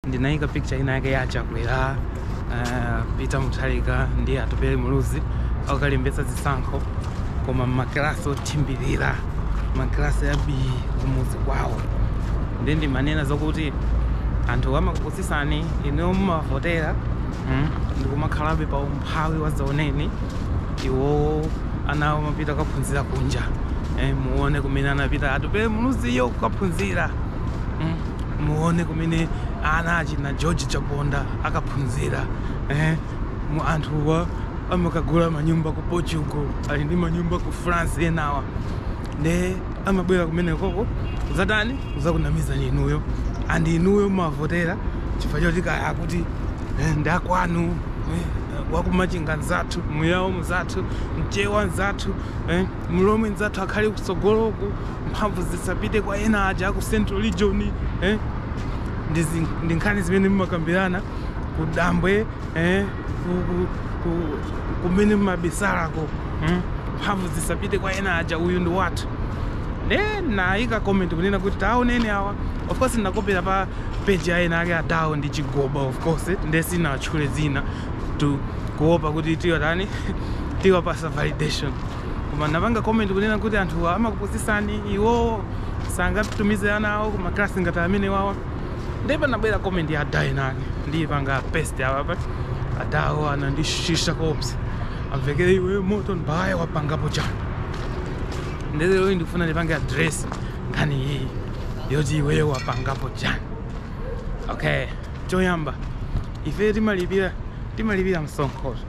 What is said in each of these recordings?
ndinaika picture ina yake ya chakwera uh, pita muthalika ndi atupele muluzi akalembetsa zisankho koma m'makilasi othimbirira makilasi abi kumuzi kwawo ndiye ndimanena zokuti anthu amakupusisani inuyo mumavotera mm, nkumakhalabe pa umphawi wazaoneni iwowo ana awo amapita kukaphunzira kunja eh, muone kumene anapita atupele muluziyo kukaphunzira mm, muone kumene ana achina george chaponda akaphunzira eh, mm anthuwa amakagula manyumba ku portugal ali ndi manyumba ku france enawa nde amabwera kumeneko uko kuzatani kuzakunamizani inuyo and inuyo mumawavotera chifukwa choti kaya akuti eh, ndi akwanu eh, wakumachinga nzathu muyawo mzathu mchewa nzathu eh, mlomwe nzathu akhale kutsogoloku mphamvu zisapite kwa ena aja aku central region eh? ndi zin- ndi nkhani zimene mumakambirana kudambwe eh? ku- ku- ku- kumene mumabisalako mm? mphamvu zisapite kwa ena aja uyu ndi wathu nde nayika comment kunena kuti taoneni awa of course ndakopera pa page ya enaake adawo ndi chigoba of course nde sinawatchule zinatu kuopa kuti tiwatani tiwapasa validation koma napanga comment kunena kuti anthuwa amakupusisani iwowo sangatumize ana awo ku maklasi ngati amenewawa ndipo panabwera comment ya ada enaake ndiyipanga paste apapa ati adawo anandishasha koopsa amvekere iwe morton baghaya wapangapo chani ndezero ndifuna ndipange address nkhani iyi yoti iweyo wapangapo chani okay choyamba ife timalipira timalipira msonkho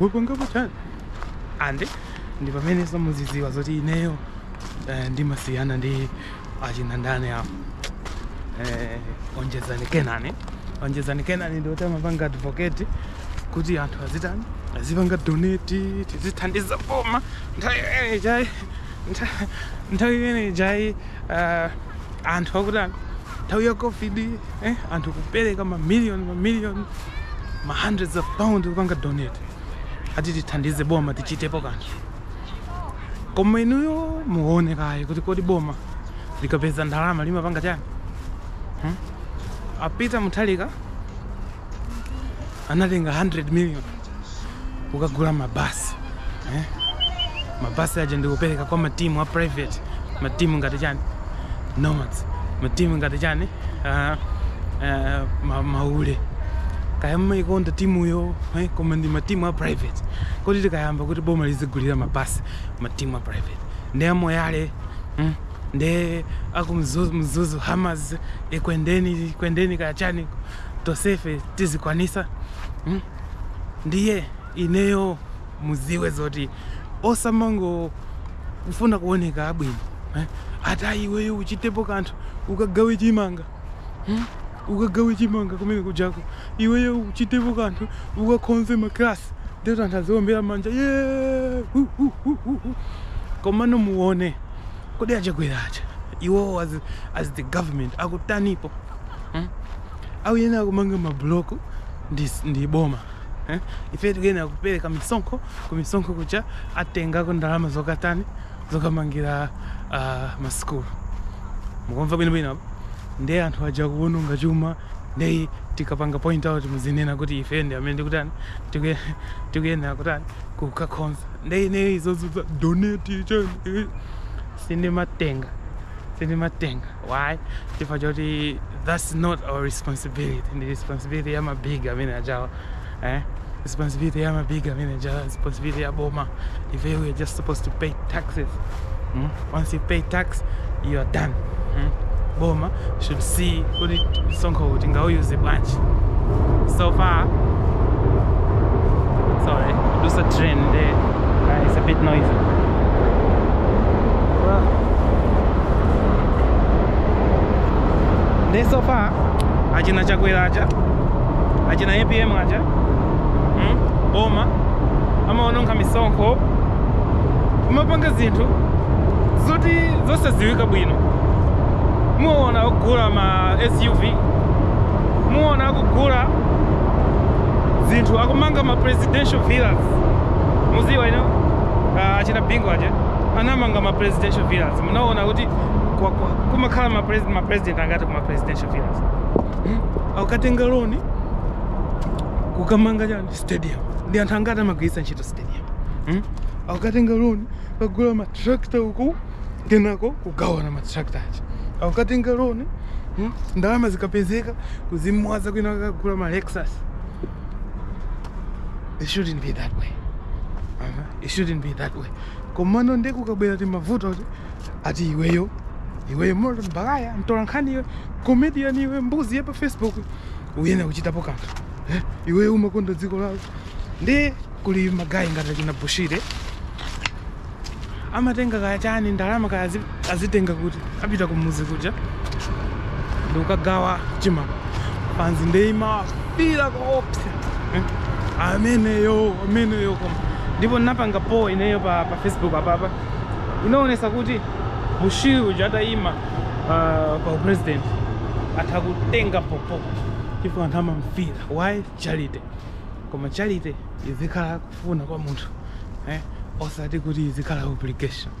wapangapo chani and ndi pameneso muziziwa zoti ineyo eh, ndimasiyana ndi achina ndani apo eh, onjezani kenani onjezani kenani ndi woti amapanga advocate kuti anthu azitani azipanga donate tizithandiza boma nthawi imene ija ayi nthawi imene ija ayi anthu akutani nthawi ya covid eh, anthu kupereka mamiliyoni mamiliyoni ma hundreds of pound kupanga donate ati tithandize boma tichitepo kanthu koma inuyo muone kaye kuti kodi boma likapeza ndalama limapanga chani hmm? apita muthalika anatenga 100 million kukagula mabasi eh? mabasi aja ndikupereka kwa matimu a private matimu ngati chani nomads matimu ngati chani uh, uh, ma, maule kaya mumaikonda timuyo eh? koma ndi matimu a private kodi tikayamba kuti boma lizigulira mabasi matimu a private ndi amoyale mm? ndi akumzuzu hammers ekwendeni ekwendeni kaya chani tonsefe tizikwanisa mm? ndiye ineyo muziwe zoti osamango kufuna kuoneka abwino eh? ati iweyo uchitepo kanthu ukagawe chimanga mm? ukagawe chimanga kumene kujako iweyo uchitepo kanthu ukakhonze maklasi ndetu anthu aziombera manja yeah! uh, uh, uh, uh, uh. komano muone Kodi achakwera aja iwowo as, as the government akutanipo hmm? Akuyenera kumanga mabuloko ndi, ndi boma eh? Ife tikuyenera kupereka misonkho kumisonkho kuja atengako ndalama zokatani zokamangira uh, masukulu mukumva bwinobwino apa ndiye anthu aja kuononga chuma ndiye tikapanga point out muzinena kuti ife ndi amene tikutani tiku- tikuyenera kutani kukakhonza nde ineyo izozo za donate chani eh, sindimatenga sindimatenga why chifukwa choti that's not our responsibility ndi responsibility ya mabig amene ajawa eh? responsibility ya mabig amene ajawa responsibility ya boma if we are just supposed to pay taxes mm? once you pay tax you are done mm? boma should see kuti msonkhowu tingawuyuze bwanji so far sorry kudusa train there uh, it's a bit noisy nde so far achina chakwera aja achina apm aja mm? boma amaononga misonkho kumapanga zinthu zoti zosadziwika bwino muona akugula ma suv muona akugula zinthu akumanga ma presidential villas muziwa inu ah, achina bingu aja anamanga ma presidential villas munaona kuti kwa- kwa- kumakhala ma pres- ma president angati kuma presidential villas Hmm? akukatenga loni kukamanga chani stadium ndi anthu angati amagwiritsa ntchito akukatenga loni kagula matrakta uku kenako kugawana matrakta aja akukatenga loni hmm? ndalama zikapezeka kuzimwaza kwina kukagula ma lexus it shouldn't be that way uh -huh. it shouldn't be that way komano nde kukabwera timavuto ati iweyo iweyo morton baghaya mtolankhani iwe comedian iwe mbuzi ya pa facebook uyena kuchitapo kanthu Eh, iwe umakonda dziko lako ndi kuli magayi ngati achina bushiri amatenga kaya chani ndalama kaya azi- azitenga kuti apita kumuzi kuja ndikukagawa chimanga fanzi nde imawafila koopsa Eh, ameneyo ameneyo koma ndipo napanga poll ineyo pa, pa facebook apapa inaonesa kuti bushiri uja atayima uh, pa upresident atha kutenga bhobho chifukwa anthu amamfira why charity koma charity izikhala kufuna kwa munthu eh? osati kuti izikhala obligation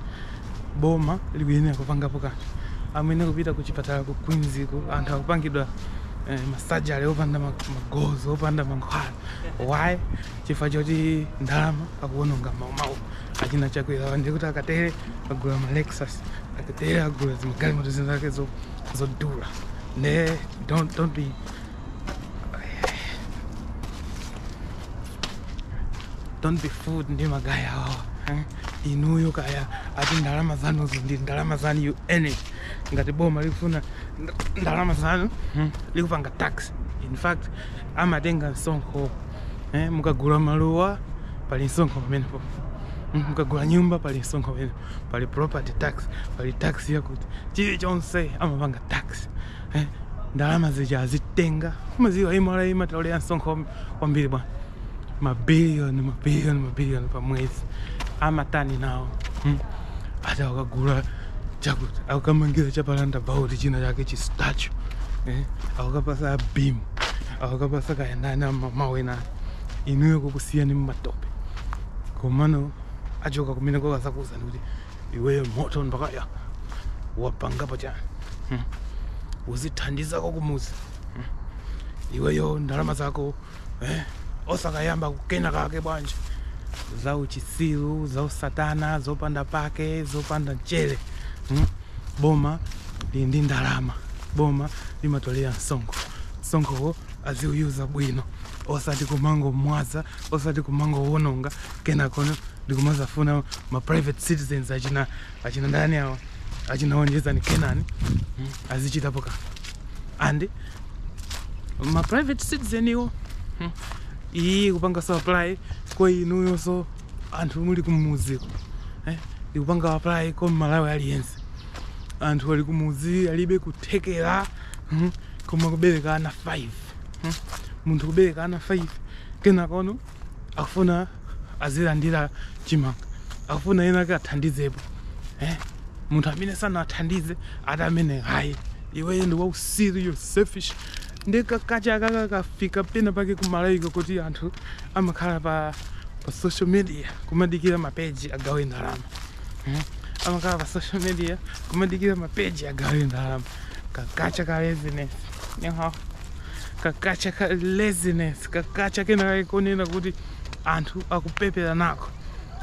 boma likuyenera kupangapo kanthu amene kupita ku chipatala ku Queens-ku anthu akupangidwa eh, masajali opanda ma- magloves opanda mankhwala why chifukwa choti ndalama akuononga ma- mawa achina Chakwera ndi kuti akatere agula ma lexus akatere agula zimagalimoto zinzake zo- zodula Nde, don't don't be. Don't be fooled ndi magaya awa. eh? Inuyo kaya ati ndalama zanu izo ndi ndalama zanu you earn it. Ngati boma likufuna nd- ndalama zanu hmm, likupanga tax. In fact, amatenga msonkho. Eh, mukagula maluwa pali msonkho pamenepo. Mm, Mukagula nyumba pali msonkho pamenepo. pali property tax pali tax yakuti chilichonse amapanga tax eh? ndalama zija azitenga madziwa MRA imatolera msonkho kwambiri bwana mabiliyoni mabiliyoni mabiliyoni pa mwezi amatani nawo hmm? ati akagula chakuti- akukamangira chapalanda bauti china chake chi statue eh? akukapatsa a Bimu akukapatsa kaya ndani amawina inuyo kukusiyani mumatope komano achoka kumene kukadzakuuza ndi kuti iweyo Morton Baghaya wapangapo chani hmm. uzithandizako kumuzi hmm. iweyo ndalama zako eh, osakayamba kukena kake bwanji za uchitsiru za usatana zopanda pake zopanda mchere hmm. boma lili ndi ndalama boma limatolera msonkho msonkhowo aziuyuza bwino osati kumangomwaza osati kumangowononga kenakono ndikumadzafuna ma private citizens achina achina ndani awo achina Onjezani Kenani mm, azichitapo ka and ma private citizen iwo mm, iyi ikupanga so apply kwa inuyonso anthu muli kumuziko eh, ikupanga apply kwa mmalawi aliyense anthu ali kumuzi alibe kuthekera mm, koma kubereka ana 5 mm, munthu kubereka ana 5 Kenakono akufuna azilandira chimanga, akufuna ena ake athandizepo eh? munthu amene sanathandize ati amene ayi iweyo ndi wautsiru you're selfish ndi kakacha ka kakafika pena pake ku Malawiko kuti anthu amakhala pa pa social media kumadikira mapeji agawe ndalama eh? amakhala pa social media kumadikira mapeji agawe ndalama kakacha ka laziness you know? kakacha ka laziness kakacha kena kakonena kuti anthu akupepera nako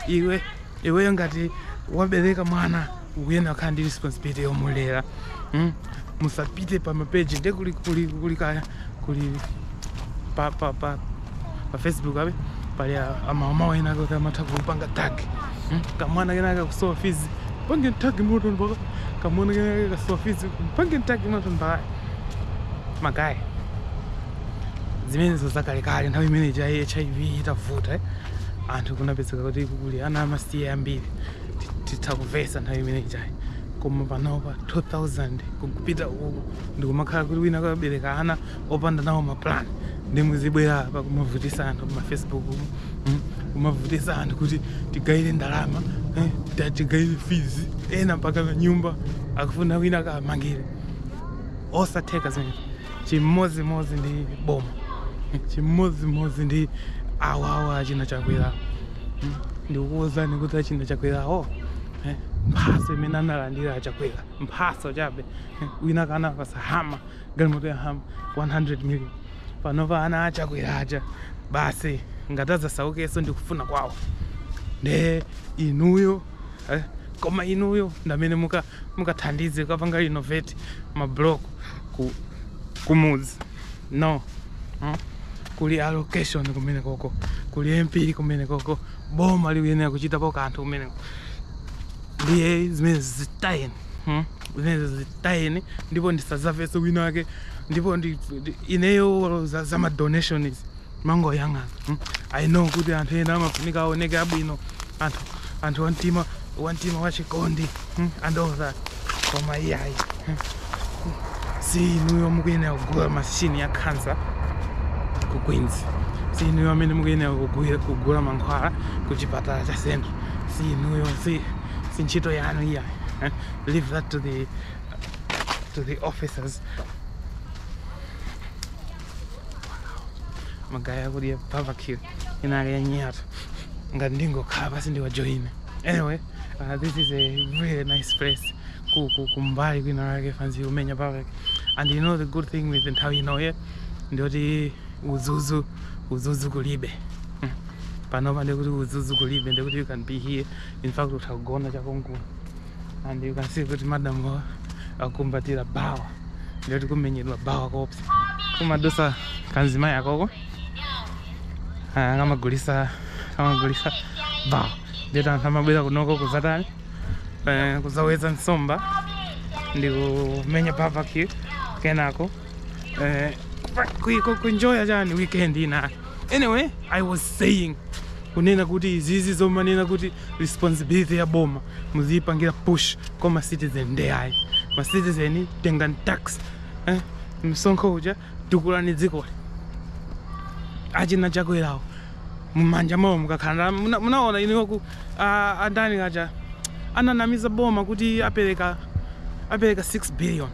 iwe iweyo ngati wabereka mwana ukuyenera kukhala ndi responsibility yomulera mm? musapite pa mapeji nde kuli kuli kuli kaya kuli pa pa pa pa facebook abe pali amama ena ake amatha kupanga tag mm? kamwana kena ake kusowa fees apange tag moto mpaka kamwana kena ake kasowa fees apange tag moto mpaka magaye zimenezo zakalekale nthawi imene ija hiv itavuta eh? anthu kunapezeka kuti kuli ana amasiye ambiri ti- titha kumvetsa nthawi imene ijayi koma panopa 2000 kupita uku ndikumakhala kuti wina kabereka ana opanda nawo maplan ndi muzibwera apa kumavutisa anthu pamafacebook mm, kumavutisa anthu kuti tigayire ndalama eh, ta- tigayire fees ena mpaka nyumba akufuna wina kamangire osatheka zimene chimodzimodzi ndi boma chimodzimodzi ndi awawa achina chakwera Mm. ndikukuwuzani kuti achina chakwerawo eh, mphatso imene analandira achakwera mphatso chabe eh, wina kanapatsa hummer galimoto ya hummer 100 million panopa ana achakwera aja basi ngati adzasaukenso ndikufuna kwawo nde inuyo eh? koma inuyo ndamene mukathandize muka kapanga renovate mablock ku kumudzi no hmm? kuli allocation kumenekoko kuli mp kumenekoko boma likuyenera kuchitapo kanthu kumeneko ndiye zimene zitayeni hmm? zimene zitayeni ndipo ndisadzamvenso wina wake ndipo ineyo za, za madonation izi ndimangoyang'ana mm. i know kuti anthu ena amafunika aoneke abwino anthu anthu wamtima wamtima wachikondi mm. and all that koma iyayi mm. si inuyo mukuyenera kugula mashini ya khansa ku queens si inuyo amene mukuyenera kugula- kugula mankhwala ku chipatala cha central si inuyo si, si ntchito yanu iyayi eh? leave that to the, to the officers magaye akudya barbecue inali yanyatu ngati ndingokhala pansi ndiwajoyine anyway uh, this is a really nice place ku- ku- kumbali kwina lake fanzi ikumenya barbecue and you know the good thing with nthawi inoyi ndiyoti uzuzu uzuzu kulibe Mm. panopa ndikuti uzuzu kulibe ndikuti you can be here in fact utha kugona cha konkuno and you can see kuti madam awa akukumbatira bawa ndiye oti kumenyedwa bawa kopsa kumadusa kamzimayi kakoko Ah, kamagulisa kamagulisa bawa ndiye oti anthu amabwera kunoko kuzatani eh, kuzaweza nsomba ndi kumenya barbecue kenako eh, ku- ku- kuenjoya chani weekend ina anyway i was saying kunena kuti izizi zomanena kuti responsibility ya boma muziyipanga push kwa ma citizen nde ayi ma citizen tengani tax eh, msonkho uja tukulani dzikoli achina chakwerawo mumanja mwawo mukakhala muna- munaona iniwo kwa a- andani aja ananamiza boma kuti apereka apereka 6 billion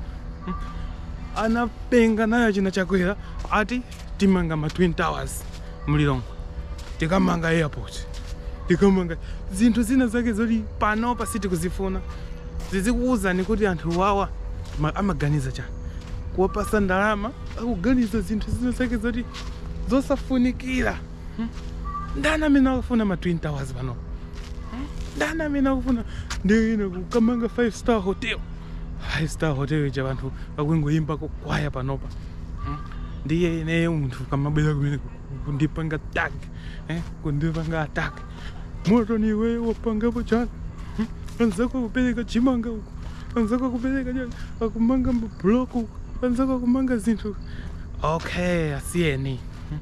anapenga nayo achina chakwera ati tikamanga ma twin towers mu Lilongwe tikamanga airport tikamanga zinthu zina zake zoti panopa sitikuzifuna zizikuwuzani kuti anthu wawa ma- amaganiza chani kuwapasa ndalama akuganiza zinthu zina zake zoti zosafunikira Hmm? ndani amene akufuna ma twin towers panopa Hmm? ndani amene akufuna ndiye ena kukamanga five star hotel five star hotel ija anthu akungoyimba kukwaya panopa ndiye ineyo munthu ukamabwera kumene kundipanga tack eh, kundipanga attack Moton iweyo wapangapo chani Hmm? anzako akupereka chimanga uko anzako akupereka chani akumanga mabuloko uko anzako akumanga zinthu uko. okay asiyeni Hmm?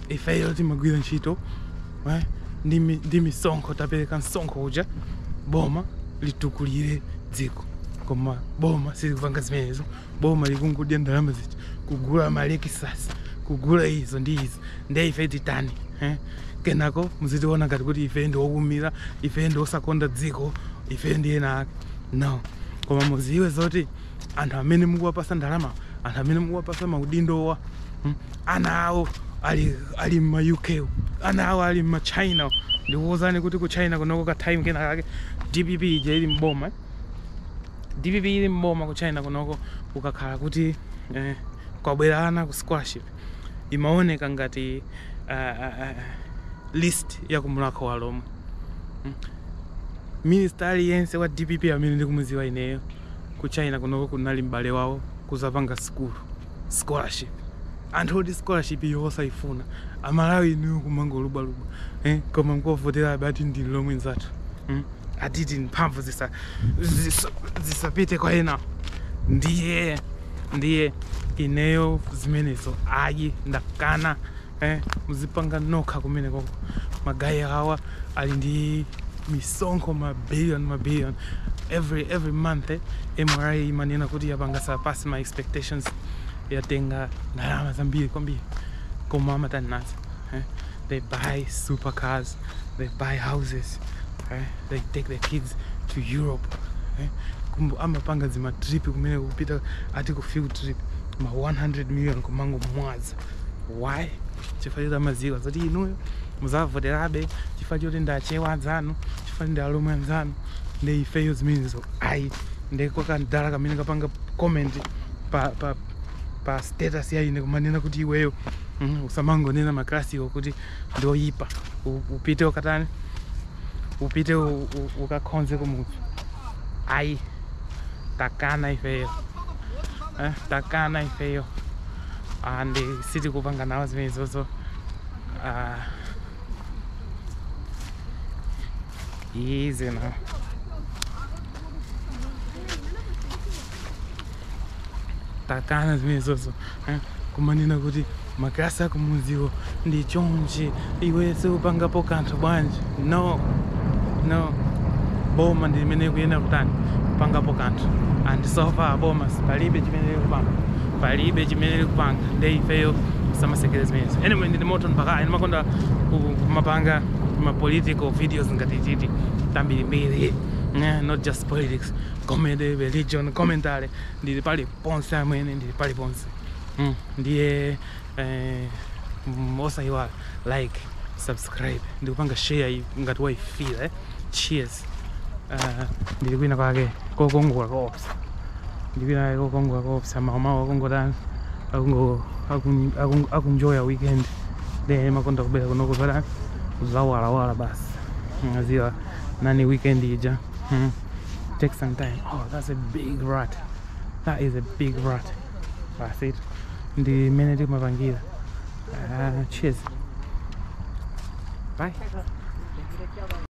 ifeyo timagwira ntchito eh, ndi mi- ndi misonkho tapereka msonkho uja boma litukulire dziko koma boma silikupanga zimenezo boma likungodya ndalama zija kugula malekisasi kugula izo ndi izo nde ife titani eh? kenako muzitiona ngati kuti ife ndi okhumira ife ndi osakonda dziko ife ndi ena ake no koma muziwe zoti anthu amene mukuwapasa ndalama anthu amene mukuwapasa maudindowa hmm? ana awo ali, ali mma uk ana awo ali mma china ndikuwuzani kuti ku china kunoko ka time kena kake dpp ija ili mboma eh? Dpp ili m'boma ku China kunoko kukakhala kuti kwabwera ana ku scholarship imaoneka ngati list ya ku Mulakho wa Lomwe. Minister aliyense wa dpp amene ndikumuziwa ineyo ku China kunoko kunali m'bale wawo kuzapanga sukulu. scholarship anthu oti scholarship iyo osaifuna amalawi inuyo kumangolubwalubwa eh? koma mkuwavotera abati ndi lomwe nzathu hmm? ati mphamvu zisa- zisa- zisapite kwa ena ndiye ndiye ineyo zimenezo ayi ndakana eh, muzipanga nokha kumene koko magayi awa ali ndi misonkho ma billion ma billion every every month eh, mra imanena kuti yapanga surpass ma expectations yatenga ndalama zambiri kwambiri koma amatani nazo eh? they buy supercars they buy houses eh? they take their kids to europe eh? Kumbu- amapanga zimatrip kumene kupita ati ku field trip ma 100 million kumango mwaza why chifukwa choti amadziwa zoti inuyo muzavoterabe chifukwa choti ndi achewa anzanu chifukwa ndi alomwe anzanu nde ifeyo zimenezo ayi nde kakadala kamene kapanga comment pa, pa, pa status ya ine kumanena kuti iweyo mm, usamangonena makalasiwo kuti ndi oyipa U- upite ukatani upite u- u- ukakhonze kumudzi ayi takana ifeyo eh, takana ifeyo and sitikupanga nawo zimenezozo uh, easy now takana zimenezozo eh? kumanena kuti makalasi akumudziwo ndi chonchi iwe siupangapo kanthu bwanji no no boma ndi limene likuyenera kutani kupangapo kanthu and so far boma palibe chimene likupanga palibe chimene likupanga nde ifeyo sitimasekerera zimenezo anyway ndine Morton Baghaya ndimakonda ku- kumapanga ma political videos ngati titi tambirimbiri eh, not just politics comedy religion commentary ndili pali ponse amwene ndili pali ponse mm. ndiye Eh, osayiwala like subscribe ndikupanga share iyi ngati waifila eh? cheers uh, ndili kwina kwake kokongola koopsa ndili kwina kwake kokongola koopsa maumawo akungotani akungo- akun- akun- akunjoya weekend ndimakonda kubwera kunoko zotani zawalawala basi kaziwanani weekend ija hmm. take some time oh that's a big rat that is a big rat basi ndi mmene timapangira Ah, cheers bye